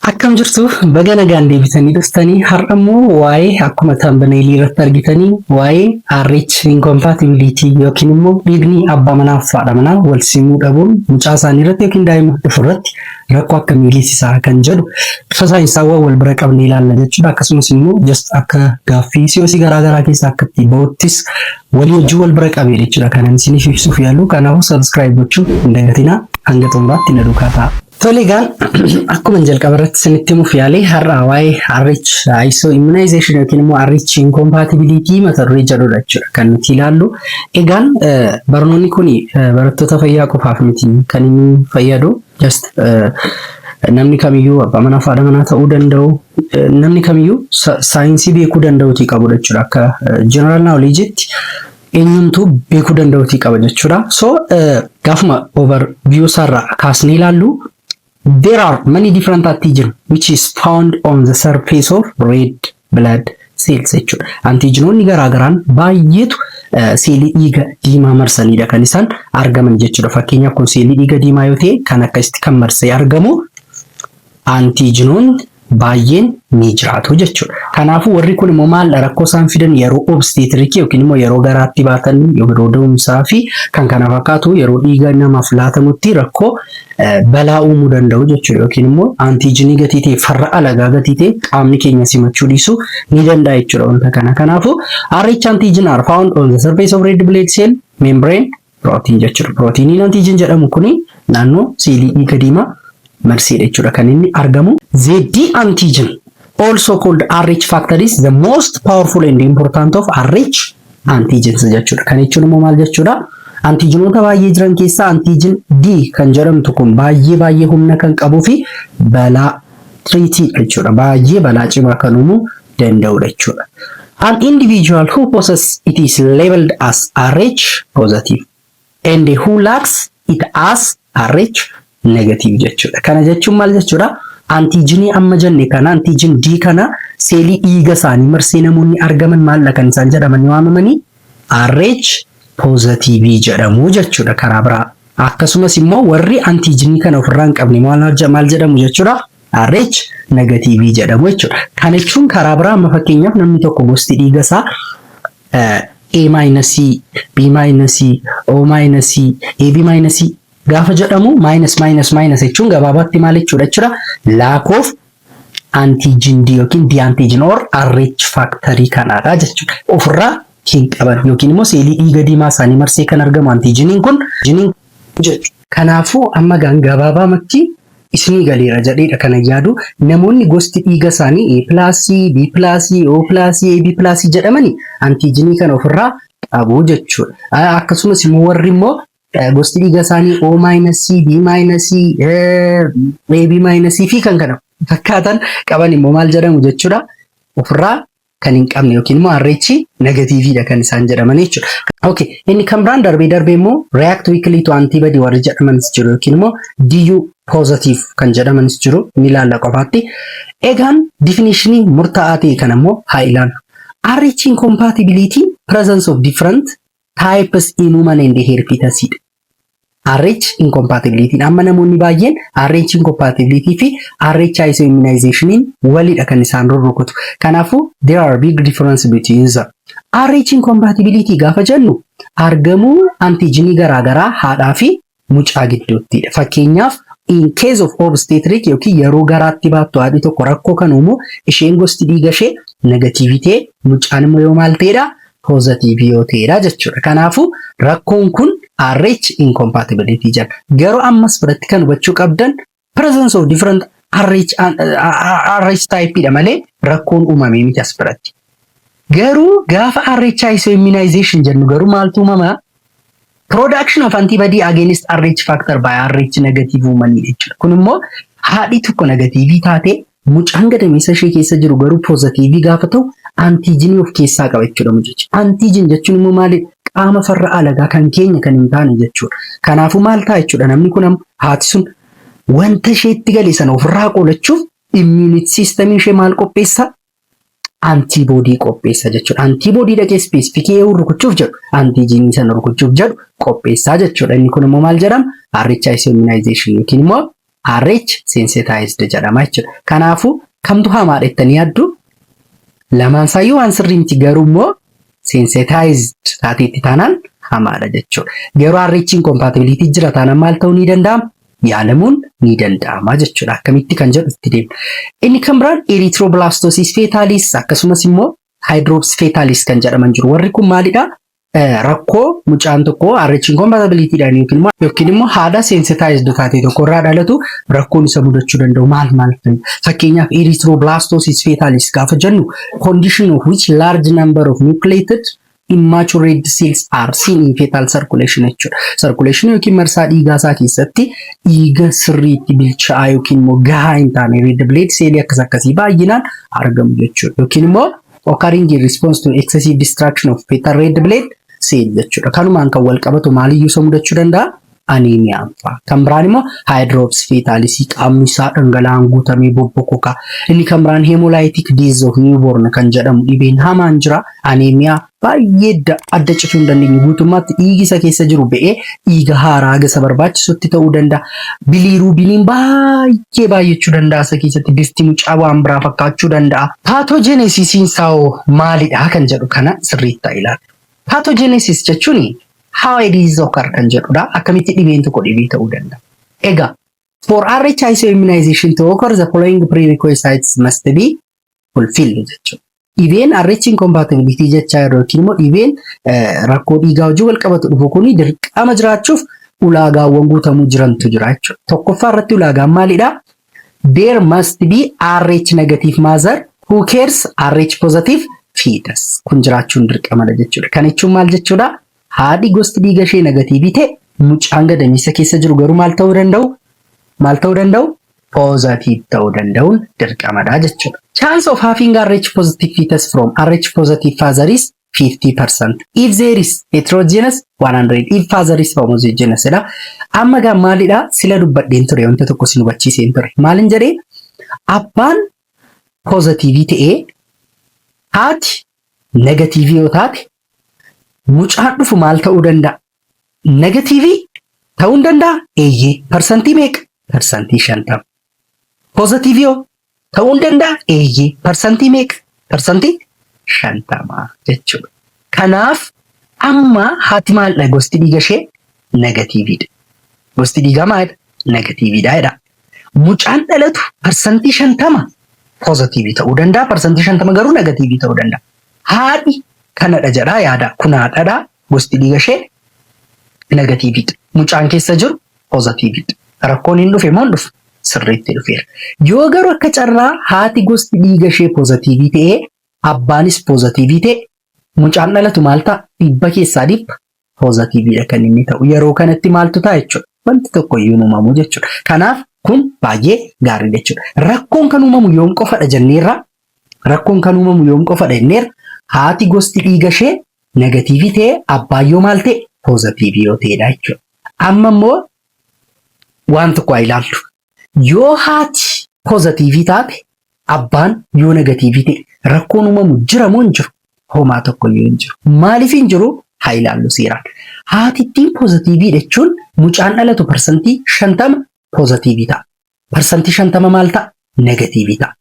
Akkam jirtu baga nagaan deebitanii dhuftanii har'a immoo waa'ee akkuma taambaneelii irratti argitanii waa'ee RH incompatibility yookiin immoo dhiigni abbaa manaa fi haadha manaa wal simuu dhabuun mucaa isaanii irratti yookiin daa'ima dhufu irratti rakkoo akkamii geessisaa kan jedhu bifa saayinsaawwan wal bira qabnee ilaalla jechuudha. Akkasumas immoo just akka gaaffii siyoosii garaa garaa keessaa akka itti ba'uttis walii wajjin wal bira qabee jechuudha kanan isiniif ibsuuf yaalu kanaafuu subscribe gochuu hin dagatinaa hanga xumuraatti na duukaa ta'a. Tole egaa akkuman jalqaba irratti isinitti himuuf yaale har'a waa'ee RH ISO immunization yookiin immoo RH incompatibility mata duree jedhudha jechuudha kan nuti ilaallu. Egaan eh, barnoonni kun barattoota fayyaa qofaaf miti kan inni fayyadu just eh, namni kamiyyuu abbaa manaa fi haadha manaa ta'uu danda'u eh, namni kamiyyuu sa- saayinsii beekuu danda'uuti qabudha jechuudha akka general knowledge'tti eenyumtuu beekuu danda'uutii qaba jechuudha. So gaafuma overview isaarraa kaasnee ilaallu there are many different antigen which is found on the surface of red blood cells jechuudha. Antiijinoonni garaagaraan baay'eetu seelii dhiiga diimaa marsanidha kan isaan argaman jechuudha. Fakkeenyaaf kun seelii dhiiga diimaa yoo ta'e kan akkasitti kan marsee argamu antiijinoonni baayyeen ni jiraatu jechuudha. Kanaafuu warri kun immoo maaldha rakkoo isaan fidan yeroo obsteetirikii yookiin immoo yeroo garaatti baatan yeroo da'umsaa fi kan kana fakkaatu yeroo dhiiga namaaf laatamutti rakkoo balaa uumuu danda'u jechuudha yookiin immoo antiijinii gatii ta'e farra alagaa gatii ta'e qaamni keenya simachuu dhiisuu ni danda'a jechuudha wanta kana. Kanaafuu RH antiijin are found on the surface of red blood cell membrane Pirootiin jechuudha. Pirootiiniin antiijin jedhamu kun naannoo seelii dhiiga diimaa marseedha jechuudha kan inni argamu. Z antigen also called RH factor is the most powerful and important of RH antigens jechuudha. Kan jechuun immoo maal jechuudha? Antiijinoota baay'ee jiran keessaa antiijin D kan jedhamtu kun baay'ee baay'ee humna kan qabuu fi balaa tiriitii jechuudha. Baay'ee balaa cimaa kan uumu danda'udha jechuudha. An individual who possess it is labeled as RH positive and who lacks it as RH negative jechuudha. Kana jechuun maal jechuudha? Antiijinii amma jenne kana antiijin D kana seelii dhiiga isaanii marsee namoonni argaman maalla kan isaan jedhamanii waamamanii RH positive jedhamu jechuudha karaa biraa. Akkasumas immoo warri antiijinii kana ofirraa hin qabne maal jedhamu jechuudha? RH negatiivii jedhamu jechuudha. Kana jechuun karaa biraa amma fakkeenyaaf namni tokko gosti dhiiga isaa A maayinasii, B maayinasii, O maayinasii, AB maayinasii gaafa jedhamu maayinas maayinas maayinas jechuun gabaabaatti maal jechuudha jechuudha lack of antigen D yookiin D antigen or RH factory kanaadha jechuudha. Ofirraa hin qaban yookiin immoo seelii dhiiga diimaa isaanii marsee kan argamu antiijiniin kun jechu. Kanaafuu amma egaan gabaabaamatti isinii galeera jadheedha kanan yaadu. Namoonni gosti dhiiga isaanii A pilaasii, B pilaasii, O pilaasii, AB pilaasii jedhamani antiijinii kana ofirraa qabu jechuudha. Akkasumas immoo warri immoo gosti dhiiga isaanii O maayinasii, B maayinasii, AB maayinasii fi kan kana fakkaatan qaban immoo maal jedhamu jechuudha ofirraa kan hin qabne yookiin immoo RH negatiiviidha kan isaan jedhaman jechuudha. Okay. Inni kan biraan darbee darbee immoo react weakly to antibody warri jedhamanis jiru yookiin immoo DU positive kan jedhamanis jiru ni ilaalla qofaatti. Egaan definishinii murtaa'aa ta'e kana immoo haa ilaallu. RH incompatibility presence of different types in human and herpes dha. RH incompatibility amma namoonni baay'een RH incompatibility fi RH ISO immunization walidha kan isaan rurrukutu. Kanaafuu there are big difference between them. RH incompatibility gaafa jennu argamuu antijinii garaagaraa haadhaa fi mucaa gidduuttidha. Fakkeenyaaf in case of obstetric yookiin yeroo garaatti baattu haadhi tokko rakkoo kan uumu isheen gosti dhiiga ishee negatiivitee mucaan immoo yoo maal ta'edha poozatiivii yoo ta'eedha jechuudha. Kanaafuu rakkoon kun RH incompatibility jedha. Garuu ammas biratti kan hubachuu qabdan presence of different RH, RH type dha malee rakkoon uumamee miti as biratti. Garuu gaafa RH isoimmunization jennu garuu maaltu uumama? Production of antibody against RH factor by RH negative woman jechuudha. Kun immoo haadhi tokko negatiivii taatee mucaan gadameessa ishee keessa jiru garuu poozatiivii gaafa ta'u antiijinii of keessaa qaba jechuudha mucichi. Antiijin jechuun immoo maali? Qaama farra alagaa kan keenya kan hin taane jechuudha. Kanaafuu maal ta'a jechuudha namni kun amma haati sun wanta isheetti gale sana ofirraa qolachuuf immuunit siistamii ishee maal qopheessaa? antiboodii qopheessa jechuudha. Antiboodii dhaqee ispeesifikii eewu rukuchuuf jedhu antijiinii sana rukuchuuf jedhu qopheessaa jechuudha. Inni kun immoo maal jedhama? RHIC immunization yookiin immoo RH sensitized jedhama jechuudha. Kanaafuu kamtu hamaadha jettanii yaaddu? Lamaan isaayyuu waan sirrii miti garuu immoo sensitized taateetti taanaan hamaadha jechuudha. Garuu RHiin compatibility jira taanaan maal ta'uu ni danda'ama? yaalamuun ni danda'ama jechuudha. Akkamitti kan jedhu itti deema. Inni kan biraan erythroblastosis fetalis akkasumas immoo hydrops fetalis kan jedhaman jiru. Warri kun maalidha? Rakkoo mucaan tokko RH incompatibility dhaan yookiin immoo yookiin immoo haadha sensitized taate tokko irraa dhalatu rakkoon isa mudachuu danda'u maal maal fa'i? Fakkeenyaaf erythroblastosis fetalis gaafa jennu condition of which large number of nucleated immature red cells are seen in fetal circulation jechuudha. Circulation yookiin marsaa dhiigaa isaa keessatti dhiiga sirriitti bilchaa'aa yookiin immoo gahaa hin taane red blood cell akkas akkasii baay'inaan argamu jechuudha. Yookiin immoo occurring in response to excessive destruction of fetal red blood cell jechuudha. Kanumaan kan wal qabatu maaliyyuu isa mudachuu danda'a? aniimiyaan fa'a. Kan biraan immoo haayidroops feetaalisii qaamni isaa dhangala'aan guutamee bobbokoka. Inni kan biraan heemolaayitik diiz of niiwuboorn kan jedhamu dhibeen hamaan jira. Aniimiyaa baay'ee adda cituu hin dandeenye guutummaatti dhiigi isa keessa jiru ba'ee dhiiga haaraa haga isa barbaachisutti ta'uu danda'a. Biliiruubiniin baay'ee baay'achuu danda'a isa keessatti bifti mucaa waan biraa fakkaachuu danda'a. Paatoojeneesisiin isaa hoo maalidha kan jedhu kana sirriitti haa ilaallu. Paatoojeneesis jechuun How a disease occur kan jedhudha. Akkamitti dhibeen tokko dhibee ta'uu danda'a. Egaa for RHISO immunization to occur the following prerequisites must be fulfilled jechuudha. Dhibeen RH incompatibility jechaa yeroo yookiin immoo dhibeen eh, rakkoo dhiigaa wajjin wal qabatu dhufu kun dirqama jiraachuuf ulaagaawwan guutamuu jirantu jira jechuudha. Tokkoffaa irratti ulaagaan maalidha? There must be RH negative mother who cares RH positive fetus. Kun jiraachuun dirqamadha jechuudha. Kan jechuun maal jechuudha? Haadhi gosti dhiiga ishee negatiivii ta'e mucaan gadameessa keessa jiru garuu maal ta'uu danda'u? Maal ta'uu danda'u? Positive ta'uu danda'uun dirqamadha jechuudha. Chance of having RH positive fetus from RH positive father is 50%. If there is heterogeneous 100. If father is homogeneous dha. Amma gaa maalidha? Sila dubbadheen ture wanta tokko sin hubachiiseen ture. Maalin jedhee? Abbaan poozatiivii ta'ee haati negatiivii yoo taate mucaan dhufu maal ta'uu danda'a? Negatiivii ta'uu hin danda'a? Eeyyee. Parsantii meeqa? Parsantii shantama. Pozatiivii hoo ta'uu hin danda'a? Eeyyee. Parsantii meeqa? Parsantii shantama jechuudha. Kanaaf amma haati maaldha gosti dhiiga ishee negatiiviidha. Gosti dhiigaa maalidha? Negatiiviidha jedha. Mucaan dhalatu parsantii shantama pozatiivii ta'uu danda'a. Parsantii shantama garuu negatiivii ta'uu danda'a. Haadhi kanadha jedhaa yaada. Kun haadhadha, Gosti dhiiga ishee negatiivii dha. Mucaan keessa jiru pozatiivii dha. Rakkoon hin dhufe moo hin dhufne? Sirriitti dhufeera. Yoo garuu akka carraa haati gosti dhiiga ishee pozatiivii ta'ee abbaanis pozatiivii ta'e mucaan dhalatu maal ta'a? Dhibba keessaa dhibba pozatiivii dha kan inni ta'u. Yeroo kanatti maaltu ta'a jechuudha? Wanti tokko iyyuu hin uumamu jechuudha. Kanaaf kun baay'ee gaariidha jechuudha. Rakkoon kan uumamu yoom qofadha jenneerra? Rakkoon kan uumamu yoom qofadha jenneerra haati gosti dhiiga ishee negatiivii ta'e abbaan yoo maal ta'e poozatiivii yoo ta'edha jechuudha. Amma immoo waan tokko haa ilaallu. Yoo haati poozatiivii taate abbaan yoo negatiivii ta'e rakkoon uumamu jira moo hin jiru? Homaa tokkoyyuu hin jiru. Maaliif hin jiru? Haa ilaallu seeraan. Haatittiin poozatiivii jechuun mucaan dhalatu parsantii shantama poozatiivii ta'a. Parsantii 50 maal ta'a? Negatiivii ta'a.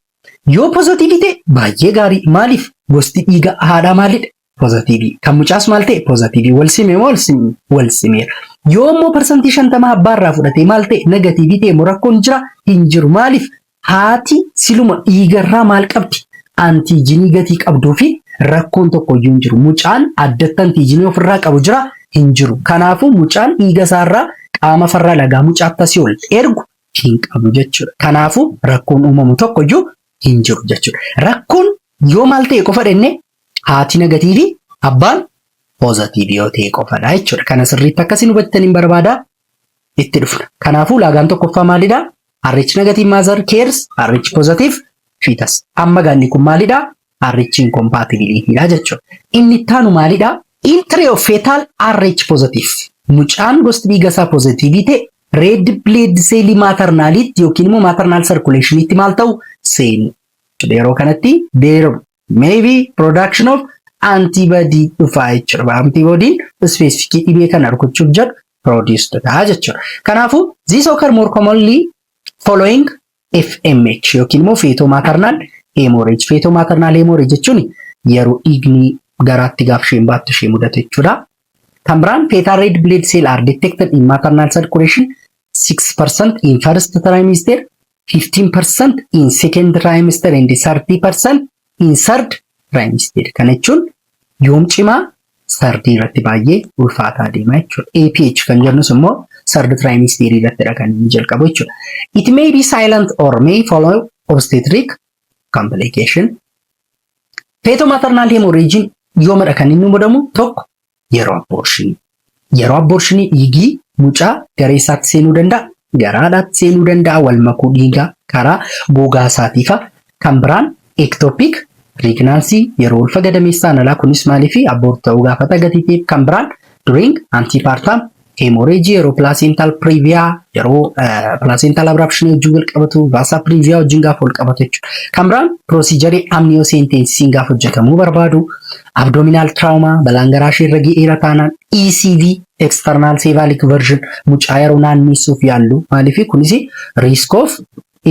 Yoo pozatiivii ta'e baay'ee gaarii. Maaliif? Gosti dhiiga haadhaa maalidha? Pozatiivii. Kan mucaas maal ta'e? Pozatiivii. Wal sime moo wal sime? Wal simeera. Yoo immoo parsantii 50 abbaa irraa fudhatee maal ta'e? Negatiivii ta'e moo rakkoon jira? Hin jiru. Maaliif? Haati siluma dhiiga irraa maal qabdi? Antiijinii gatii qabduu fi rakkoon tokko iyyuu hin jiru. Mucaan addatti antiijinii ofirraa qabu jira? Hin jiru. Kanaafuu mucaan dhiiga isaarraa qaama farra lagaa mucaa akkasii ol ergu hin qabu jechuudha. Kanaafuu rakkoon uumamu tokko iyyuu hin jiru jechuudha. Rakkoon yoo maal ta'e qofa dhenne haati negatiivii abbaan poozatiivii yoo ta'e qofadha jechuudha. Kana sirriitti akkasiin hubattan hin barbaada itti dhufna. Kanaafuu laagaan tokkoffaa maalidha? RH negative mother cares, RH positive fetus. Amma gaanni kun maalidha? RH incompatibility dha jechuudha. Inni itti aanu maalidha? Entry of fetal RH positive. Mucaan gosti dhiiga isaa pozitiivii ta'e red blood cell maatarnaaliitti yookiin immoo maatarnaal sarkuleeshiniitti maal ta'u seenu. Jechuudha. Yeroo kanatti there may be production of antibody dhufaa jechuudha. Antibodiin ispeesifikii dhibee kana rukuchuuf jedhu produced dha jechuudha. Kanaafuu this occur more commonly following FMH yookiin immoo feetoo maatarnaal heemooreej. Feetoo maatarnaal heemooreej jechuun yeroo dhiigni garaatti gaaf isheen baattu ishee mudate jechuudha. Kan biraan feetaa reed bileed seel aar detected in maternal circulation 6% in first trimester, 15% in second trimester and 30% in sard rhymes jedhe. Kana jechuun yoom cimaa sardii irratti baay'ee ulfaataa deema jechuudha. APH kan jennus immoo sard rhymes theory irrattidha kan inni jalqabu jechuudha. It may be silent or may follow obstetric complication. Feto maternal hemorrhage yoomadha kan inni mudamu tokko Yeroo abboorshinii. Yeroo abboorshinii dhiigii mucaa garee isaatti seenuu danda'a, gara haadhaatti seenuu danda'a, wal makuu dhiigaa karaa gogaa isaatiifa. Kan biraan ectopic pregnancy yeroo ulfa gadameessaan alaa kunis maaliif abboorti ta'uu gaafata gatiitiif. Kan biraan during antepartum Hemorrhage yeroo placental previa yeroo placental abruption wajjin wal qabatu vasa previa wajjin gaafa wal qabatu jechuudha. Kan biraan procedure amniocentesis gaafa hojjetamuu barbaadu abdominal trauma balaan garaa ishee irra ga'eera taanaan ECV external cephalic version mucaa yeroo naanneessuuf yaallu maaliif kunis risk of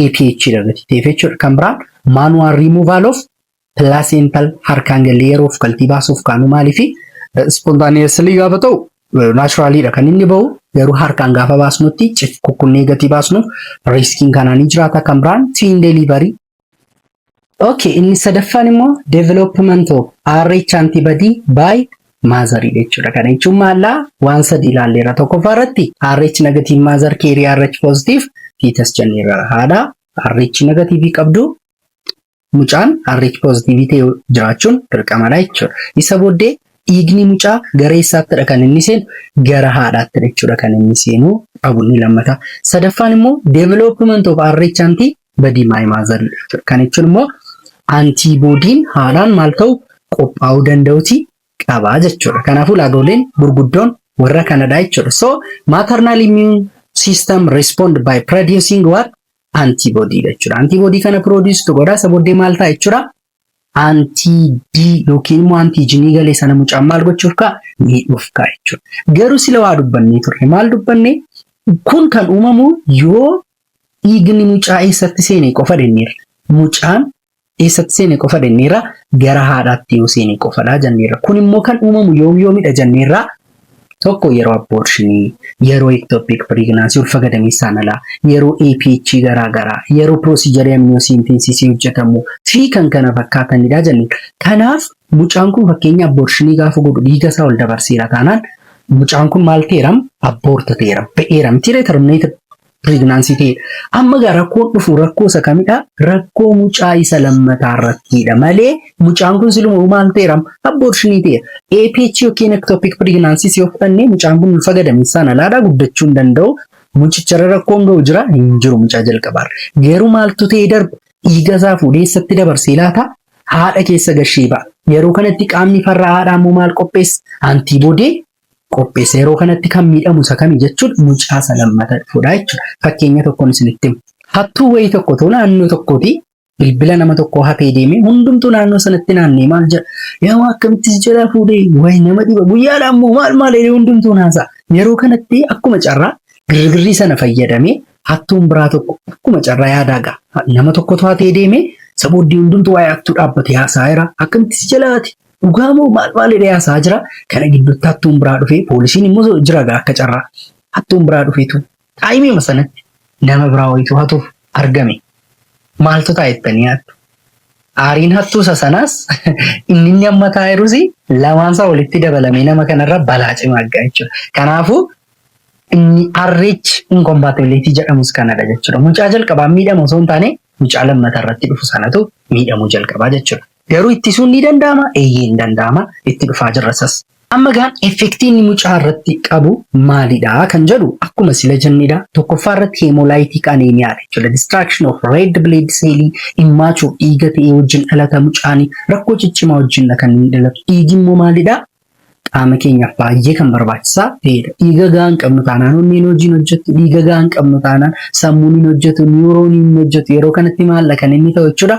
APH dha gatii ta'eef jechuudha. Kan biraan manual removal of placental harkaan galle yeroo ufkaltii baasuuf kaanu maaliifi spontaneously gaafa ta'u naturally dha kan inni ba'u garuu harkaan gaafa baasnutti cif kukkunnee gatii baasnuuf riskiin kanaa ni jiraata kan biraan tiin delivery Ok, inni sadaffaan immoo development of RH antibody by mother jechuudha. Kana jechuun maallaa waan sadi ilaalleera. Tokkoffaa irratti RH negative mother carry RH positive fetus jenneerra. Haadha RH negative qabdu mucaan RH pozitiivii ta'e jiraachuun dirqamadha jechuudha. Isa booddee dhiigni mucaa gara eessaattidha kan inni seenu? Gara haadhaattidha jechuudha kan inni seenu qabu inni lammataa. Sadaffaan immoo development of RH anti body my mother jechuudha. Kan jechuun immoo antiiboodiin haadhaan maal ta'u qophaa'uu danda'uti qaba jechuudha. Kanaafuu ulaagoleen gurguddoon warra kanadha jechuudha. So maternal immune system respond by producing what? antibody dha jechuudha. Antibody kana produce tu godha. Isa booddee maal ta'a jechuudha? Anti-D yookiin immoo antiijinii galee sana mucaan maal gochuuf ka'a? Miidhuuf ka'a jechuudha. Garuu sila waa dubbannee turre. Maal dubbannee? Kun kan uumamu yoo dhiigni mucaa eessatti seene qofa jenneerra. Mucaan eessatti seene qofa denneerra gara haadhaatti yoo seene qofadha janneerra. Kun immoo kan uumamu yoom yoomidha janneerra tokko yeroo abortionii, yeroo ectopic pregnancy ulfa gadameessaan alaa, yeroo APH garaa garaa, yeroo procedure amniocentesis hojjetamu fi kan kana fakkaatanidha janneerra. Kanaaf mucaan kun fakkeenya abortionii gaafa godhu dhiiga isaa ol dabarseera taanaan mucaan kun maal ta'eeram? Abort ta'eeram. Ba'eera mitiiree terminated pireegnaansii ta'edha. Amma egaa rakkoon dhufu rakkoo isa kamidha? Rakkoo mucaa isa lammataa irrattiidha malee mucaan kun siluma maal ta'eera? Abborshinii ta'eera. APH yookiin ektoopiik pireegnaansii yoo fudhanne mucaan kun ulfa gadameessaan alaadha guddachuu hin danda'u. Mucicharra rakkoon ga'u jira hin jiru mucaa jalqabaarra. Garuu maaltu ta'ee darba? Dhiiga isaa fuudhee eessatti dabarsee laata? Haadha keessa gashee ba'a. Yeroo kanatti qaamni farra haadhaa immoo maal qopheessa? Antiiboodee qopheessa. Yeroo kanatti kan miidhamu isa kami jechuudha? Mucaa isa lammata dhufudha jechuudha. Fakkeenya tokkoon isinitti hima. Hattuu wayii tokkotu naannoo tokkooti bilbila nama tokkoo hatee deeme hundumtuu naannoo sanatti naannee maal jedha? Yaa waa akkamittis jalaa fuudhee wayi nama dhiba guyyaadha ammoo maal maal jedhee hundumtuu naasaa. Yeroo kanatti akkuma carraa girgirrii sana fayyadamee hattuun biraa tokko akkuma carraa yaadaa ga'a. Nama tokkotu hatee deeme isa booddee hundumtuu waa'ee hattuu dhaabbatee haasa'aa jira. Akkamittis jalaati Dhugaa moo maal maal jedhee haasaa jira. Kana gidduutti hattuun biraa dhufee poolisiin immoo jira gaa akka carraa. Hattuun biraa dhufeetu taayimiima sanatti nama biraa wayitu hatuuf argame. Maaltu ta'a jettanii yaaddu? Aariin hattuusa sanaas inni inni amma taa'eerus lamaansaa walitti dabalamee nama kanarra balaa cimaa argaa jechuudha. Kanaafuu inni arreechi inkompaatibiliitii jedhamus kanadha jechuudha. Mucaa jalqabaa miidhama osoo hin taane mucaa lammata irratti dhufu sanatu miidhamuu jalqabaa jechuudha. Garuu ittisuun ni danda'ama? Eeyyee ni danda'ama. Itti dhufaa jirra isas. Amma egaa effektii inni mucaa irratti qabu maalidha kan jedhu akkuma sila jennedha. Tokkoffaa irratti hemolytic anemia dha jechuudha. Destruction of red blood cell immature dhiiga ta'ee wajjin dhalata mucaan rakkoo ciccimaa wajjinidha kan inni dhalatu. Dhiigi immoo maalidha? qaama keenyaaf baay'ee kan barbaachisaa ta'edha. Dhiiga gahaa hin qabnu taanaan onneen hojii hin hojjetu, dhiiga gahaa hin qabnu taanaan sammuun hin hojjetu, niwurooniin hin hojjetu. Yeroo kanatti maalla kan inni ta'u jechuudha.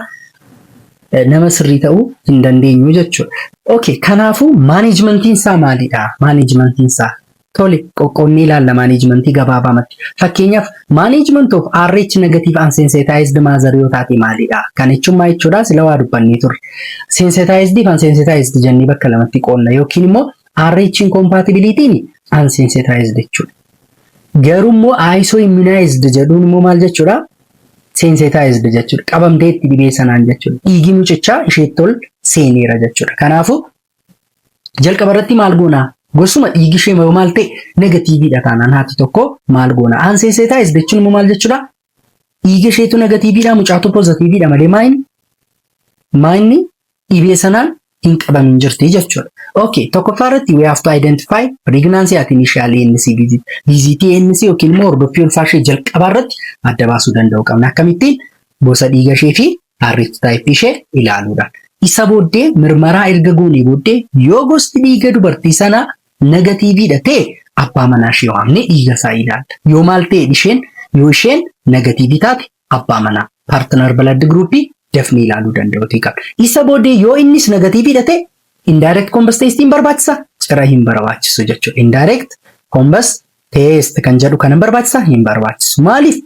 Nama sirrii ta'uu hin dandeenyu jechuudha. Okay, kanaafuu maaneejmentiin isaa maalidha? Maaneejmentiin isaa Tole, qoqqoodnee ilaalla maaneejmentii gabaabaamatti. Fakkeenyaaf, management of RH negative unsensitized mother yoo taate maalidha? Kan jechuun maa jechuudha? Sila waa dubbannee turre. Sensitized fi unsensitized jennee bakka lamatti qoodna yookiin immoo RH incompatibility unsensitized jechuudha. Garuu immoo ISO immunized jedhuun immoo maal jechuudha? Sensitized jechuudha. Qabamtee itti dhibee sanaan jechuudha. Dhiigi mucichaa isheetti ol seeneera jechuudha. Kanaafuu Jalqaba irratti maal goona? Gosuma dhiigi ishee yoo maal ta'e negatiiviidha taanaan haati tokko maal goona? Aanseeseetaayiz jechuun immoo maal jechuudha? Dhiiga isheetu negatiiviidha mucaatu pozatiiviidha malee maayin maayinni dhibee sanaan hin qabamin jirti jechuudha. Okay, tokkoffaa irratti we have to identify pregnancy at initial ANC visit. Visit ANC yookiin immoo hordoffii ulfaa ishee jalqabaa irratti adda baasuu danda'uu qabna. Akkamittiin gosa dhiiga ishee fi karyootaayippii ishee ilaaluudha. Isa booddee mirmaraa erga goonee booddee yoo gosti dhiiga dubartii sanaa negatiiviidha ta'e abbaa manaa ishee waamnee dhiiga isaa ilaalla. Yoo maal ta'e isheen yoo isheen negatiivii taate abbaa manaa paartinar balad giruuppii dafnee ilaaluu danda'uutii qabna. Isa booddee yoo innis negatiiviidha ta'e indirect combust testiin barbaachisa cira hin barbaachisu jechuudha. Indirect combust Teest kan jedhu kana barbaachisa hin barbaachisu. Maaliif?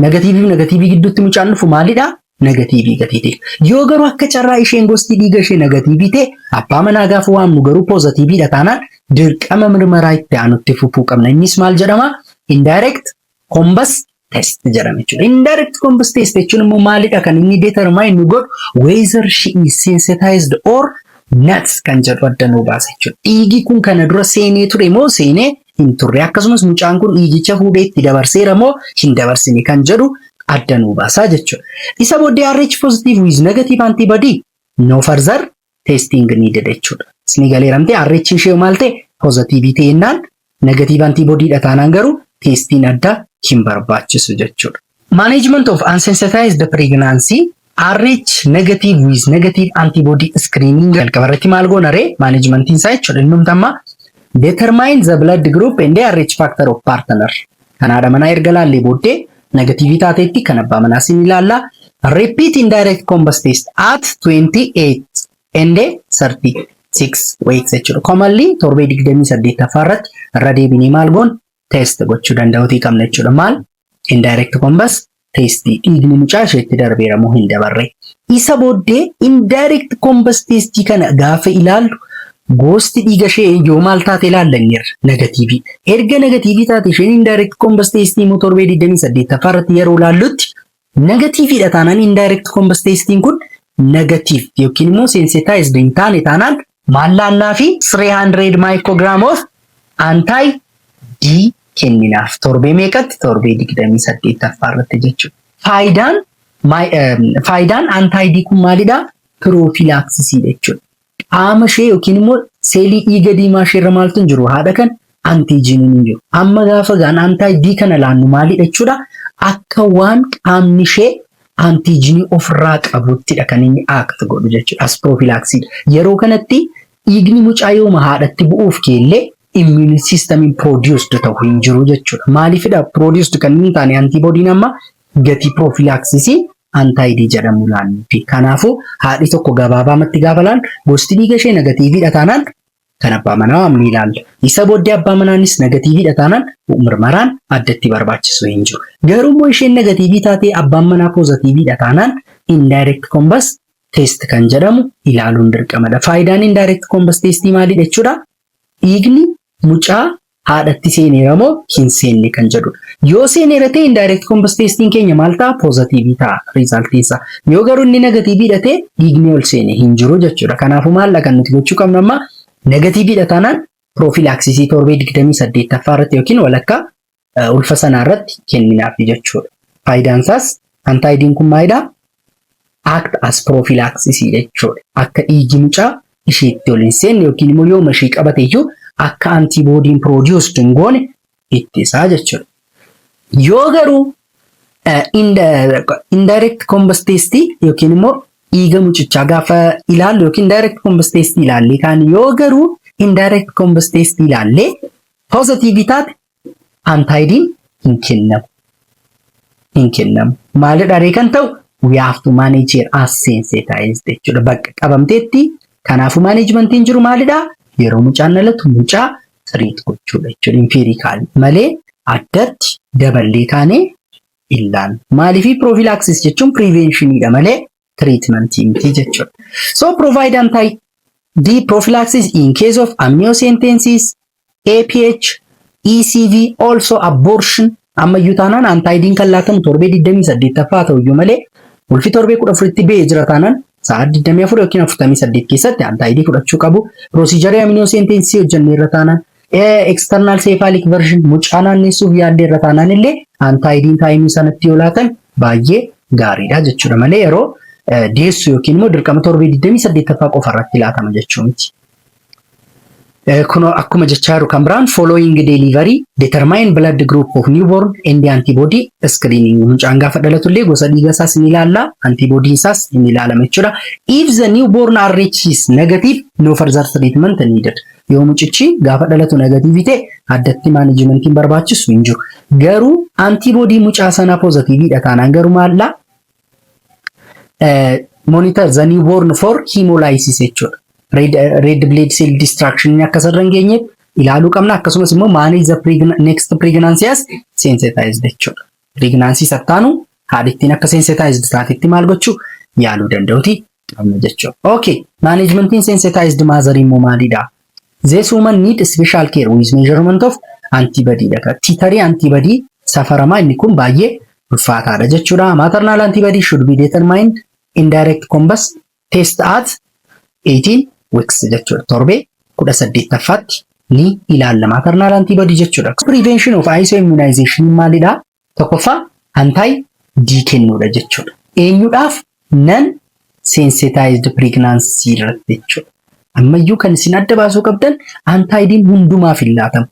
Negatiivii fi negatiivii gidduutti mucaan dhufu maalidha? Negatiivii gatii ta'e. Yoo garuu akka carraa isheen gosti dhiiga ishee negatiivii ta'e abbaa manaa gaafa waamnu garuu poozatiiviidha taanaan dirqama mirmaraa itti aanutti fufuu qabna. Innis maal jedhama? Indirect combust test jedhama jechuudha. Indirect combust test jechuun immoo maalidha kan inni determine nu godhu whether she is sensitized or not kan jedhu adda nu baasa jechuudha. Dhiigi kun kana dura seenee ture moo seenee hin turre akkasumas mucaan kun dhiigicha fuudhee itti dabarseera moo hin dabarsine kan jedhu adda nu baasa jechuudha. Isa booddee RH positive with negative antibody no further testing needed jechuudha. Isni galeera miti RH ishee maal ta'e pozatiivii ta'e jennaan negatiiv antiibodiidha taanaan garuu teestiin addaa hin barbaachisu jechuudha. Management of unsensitized pregnancy RH negative with negative antibody screening jalqaba irratti maal goona ree managementiin isaa jechuudha innumti amma determine the blood group and RH factor of partner Kan haadha manaa erga laallee booddee negatiivii taateetti kan abbaa manaa sin ilaalla. Repeat indirect combust test at 28 and 36 weeks jechuudha. Commonly torbee 28ffaa irratti irra deebinee maal goon test gochuu danda'uutii qabna jechuudha. Maal indirect combust testii dhiigni mucaa isheetti darbeera moo hin dabarre? Isa booddee indirect combust testii kana gaafa ilaallu goosti dhiiga ishee yoo maal taate ilaalla inni irra negatiivii. Erga negatiivii taate isheen indirect combust testii immoo torbee 28ffaa irratti yeroo ilaallutti negatiiviidha taanaan indirect combust testiin kun negatiiv yookiin immoo sensitized hin taane taanaan Maallaannaa fi 300 microgram of anti D kenninaaf. Torbee meeqatti? Torbee 28ffaa irratti jechuudha. Faayidaan my- eh, faayidaan anti D kun maalidha? Piroofiilaaksisii jechuudha. Qaama ishee yookiin immoo seelii dhiiga diimaa ishee irra maaltu hin jiru? Haadha kan antiijiiniin hin jiru. Amma gaafa gaan antaay D kana laannu maalidha jechuudha? Akka waan qaamni ishee antiijiinii ofirraa qabuttidha kan inni aakti godhu jechuudha. As piroofiilaaksiidha. Yeroo kanatti dhiigni mucaa yooma haadhatti bu'uuf keellee immuun siistamiin piroodiyoosd ta'u hin jiru jechuudha. Maaliifidha piroodiyoosd kan inni taane antiiboodiin amma gatii piroofiilaaksisii antaayidii jedhamu laannuufi. Kanaafuu haadhi tokko gabaabaamatti gaafa laan gosti dhiiga ishee negatiiviidha taanaan kan abbaa manaa ni ilaalla. Isa booddee abbaa manaanis nagatiiviidha taanaan mirmaraan addatti barbaachisu hin jiru. Garuu immoo isheen nagatiivii taatee abbaan manaa poozatiiviidha taanaan indirect combust test kan jedhamu ilaaluun dirqamadha. Faayidaan indirect combust testii maalidha jechuudha? Dhiigni mucaa haadhatti seeneera moo hin seenne kan jedhudha. Yoo seeneera ta'e indirect combust testiin keenya maal ta'a? Poozatiivii ta'a riizaaltiin isaa. Yoo garuu inni negatiiviidha ta'e dhiigni ol seene hin jiru jechuudha. Kanaafuu maalla kan nuti gochuu qabnu amma negatiiviidha taanaan piroofiilaaksisii torbee 28ffaa irratti yookiin walakkaa ulfa sanaa irratti kenninaaf jechuudha. Faayidaan isaas antaayidiin kun maalidha? act as prophylaxis jechuudha. Akka dhiigi mucaa isheetti ol hin seenne yookiin immoo yooma ishee qabate iyyuu akka antiboodiin produced hin goone ittisaa jechuudha. Yoo garuu eh, indi- indirect combus test yookiin immoo dhiiga mucichaa gaafa ilaallu yookiin direct combus test ilaallee kaan yoo garuu indirect combus test ilaallee positive taate antaayidiin hin kennamu. Hin kennamu. Maalidha ree kan ta'u? We have to manage her as sensitized jechuudha. Bakka qabamteetti kanaafuu maaneejmentiin jiru maalidha? Yeroo mucaan dhalatu mucaa tiriit gochuudha jechuudha. Impiirikaal malee addatti daballee kaanee illaan. Maaliif piroofilaaksis jechuun piriveenshinidha malee treatment miti jechuudha. So provide anti D prophylaxis in case of amniocentesis, APH, ECV, also abortion. Amma iyyuu taanaan antaayidiin kan laatamu torbee 28ffaa ta'u iyyuu malee ulfi torbee 14tti ba'ee jira taanaan sa'aa 24 yookiin 48 keessatti antaayidii fudhachuu qabu. Pirosiijarii amniocentesis hojjennee irra taanaan External cephalic version mucaa naannessuuf yaaddee irra taanaan illee antaayidiin taayimii sanatti yoo laatan baay'ee gaariidha jechuudha malee yeroo deessu yookiin immoo dirqama torbee 28ffaa qofa irratti laatama jechuu miti. Kunoo akkuma jechaa jiru kan biraan following delivery determine blood group of newborn and antibody screening mucaan gaafa dhalatu illee gosa dhiiga isaas ni ilaalla antibody isaas ni ilaalama jechuudha. If the newborn RH is negative no further treatment needed. Yoo mucichi gaafa dhalatu negatiivii ta'e addatti maanajimentiin barbaachisu hin jiru. Garuu antiboodii mucaa sanaa poozatiiviidha taanaan garuu maallaa monitor the newborn for hemolysis jechuudha. Red, red blood cell destruction inni akka sarara hin geenyeef ilaaluu qabna akkasumas immoo manage the pregna next pregnancy as sensitized jechuudha. Pregnancy sattaanu haadhittiin akka sensitized taatetti maal gochuu yaaluu danda'uti. qabna jechuudha. Okay, maneejmentiin sensitized mother immoo maalidha? This woman need special care with measurement of antibody dha. Tiitarii antibody safaramaa inni kun baay'ee ulfaataadha jechuudha. Maternal antibody should be determined in direct combust test at 18 weeks jechuudha. Torbee 18ffaatti ni ilaalla maternal antibody jechuudha. Prevention of ISO immunization maalidha? Tokkoffaa anti D kennuudha jechuudha. Eenyudhaaf nan sensitized pregnancy irratti jechuudha. Ammayyuu kan isin adda baasuu qabdan anti D'n hundumaaf hin laatamu.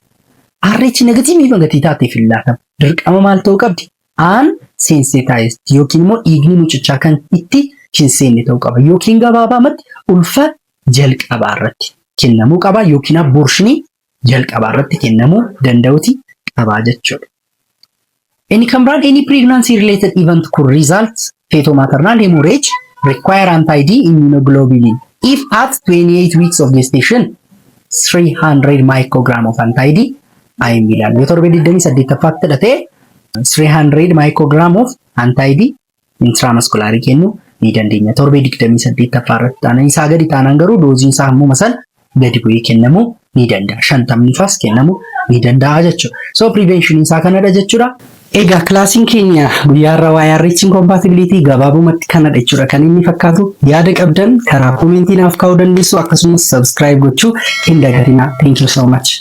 RH negatiivii fi gatii taateef hin laatamu. Dirqama maal ta'uu qabdi? An sensitized yookiin immoo dhiigni mucichaa kan itti hin seenne ta'uu qaba. Yookiin gabaabaamatti ulfa jalqabaa irratti kennamuu qaba yookiin abortionii jalqabaa irratti kennamuu danda'uti qabaa jechuudha. Inni kan biraan any pregnancy related event could result fetal maternal hemorrhage require anti-D immunoglobulin if at 28 weeks of gestation 300 microgram of anti-D IM ilaal. Yoo torbee 28ffaatti dhatee 300 microgram of anti-D intiraamaskulaarii kennuu ni dandeenya. Torbee 28ffaa irratti taanaan isaa gadi taanaan garuu dooziin isaa hammuma san gadi bu'ee kennamuu ni danda'a. Shantamni faas kennamuu ni danda'a jechuudha. So prevention isaa kanadha jechuudha. Egaa kilaasiin keenya guyyaa irra waa'ee RH incompatibility gabaabumatti kanadha jechuudha kan inni fakkaatu. Yaada qabdan karaa koomentii naaf kaa'uu dandeessu akkasumas subscribe gochuu hin dagatinaa. Thank you so much.